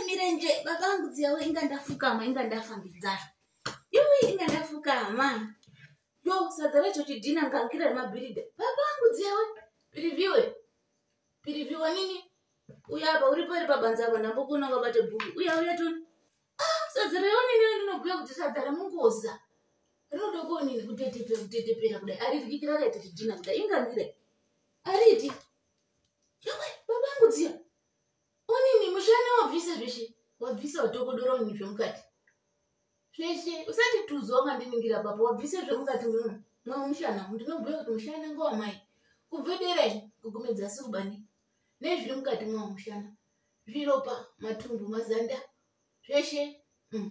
mirenje baba angu dziyawo inga ndafukama inga ndafambidzana iwi inga ndafukama yo sadza racho chidhina ngangira remabhirida baba angu dziyawo pirivhiwe pirivhiwa nini uya apa uri pari pabanza apa ndambokona wabate bhuku uya uya toni ah, sadza rayo nini ndinobhuya kuti sadza remungoza rinoda kuonini kutetepera kutetepera kudai aririkikira akaita chidhina kudai ingangira ariti yawe baba angu dziyawo Onini mushana wabvisa zveshe wabvisa utokodora onini zvemukati zveshe usati tuzo wakandiningira papa wabvisa zvemukati muno mwe mushana ndinobhuya kuti mushana ngowamai kubve dera izvi kugumedza asi kubani nezviri mukati mwawo mushana zviropa matumbu mazanda zveshe mm.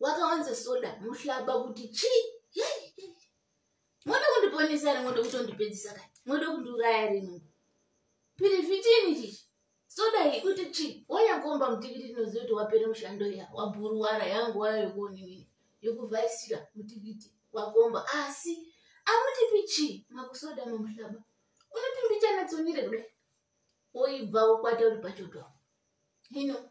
wakawanza soda muhlaba kuti chii moda kundiponesa ri moda kutondipedzisa ka moda kundiuraya rino pirifitini chii soda iyi kuti chii wanyakomba mutikiti tinoziva kuti wapere mushando iya wabhuruwara yangu waya yokuoninini yokuvhaisira mutikiti wakomba asi amutipi chii makusoda mamuhlaba unotimbichanatsonire kudai woibva wokwata uri pachoto hino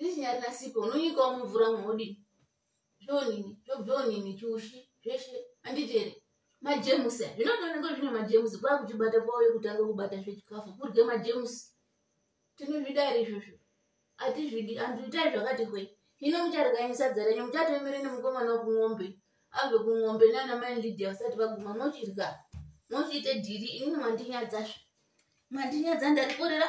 nechinyarina sipo unonyikawo mumvura mhodi zvonini zvobvonini chushi zveshe anditeri majemusi a zvinotooneka zvine majemusi kwaa kuchibata kwauye kutanga kubata zvechikafu kurye majemusi tinozvida iri izvozvo atizvidi antu itai zvakati hwe hino mucharikanye sadza renyu muchatoemere nemukomana wekumwombe abve kumwombe nana mai lidia vasati vaguma mochirya mochiite dhiri inini mandinyadzazve mandinyadza ndarikorera